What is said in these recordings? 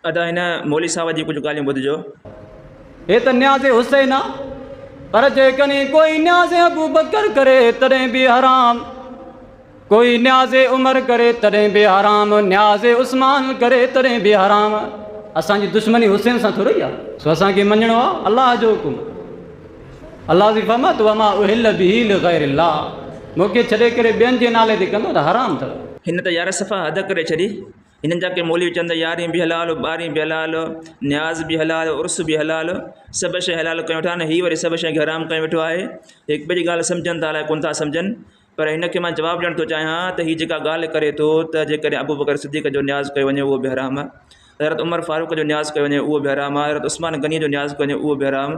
ادا هن مولوي صاحب جي ڪجهه ڳالهيون ٻڌجو. هي ته نياز حسين آ پر جيڪڏهن ڪوئي نياز ابوبڪر ڪري تڏهن به حرام ڪوئي نياز عمر ڪري تڏهن به حرام نياز عثمان ڪري تڏهن به حرام اسان جي دشمني حسين سان ٿورئي آ سو اسان کي مڃڻو آ الله جو حڪم الله جي فرمات وما احل به لغير الله مون کي ڇڏي ڪري ٻين جي نالي تي ڪندو ته حرام ٿو. هن ته يارصفا حد ڪري ڇڏي. هنن جا ڪي مولوي چون ته يارهين به حلال ٻارهين به حلال نياز به حلال عرس به حلال سڀ شيء حلال ڪيون ويٺا آهن هي وري سڀ شيء کي حرام ڪيون ويٺو آهي هڪ ٻئي جي ڳالهه سمجهن ٿا الاء ڪونه ٿا سمجهن پر هن کي مان جواب ڏيڻ ٿو چاهيان ته هي جيڪا ڳالهه ڪري ٿو ته جيڪڏهن ابو بڪر صديق جو نياز ڪيو وڃي اهو به حرام حضرت عمر فاروق جو نياز ڪيو وڃي اهو به حرام حضرت عثمان غني جو نياز ڪيو وڃي اهو به حرام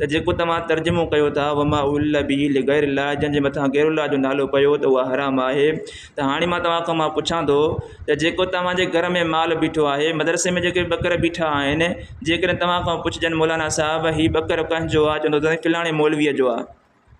ته جيڪو توهان ترجمو ڪيو ٿا وما احل به لغير الله جنهن جي مٿان غير الله جو نالو پيو ته اها حرام آهي ته هاڻي مان توهان کان مان پڇان ٿو ته جيڪو توهان جي گهر ۾ مال بيٺو آهي مدرسي ۾ جيڪي ٻڪر بيٺا آهن جيڪڏهن توهان کان پڇجن مولانا صاحب هي ٻڪر ڪنهن جو آهي چوندو ته فلاڻي مولويء جو آهي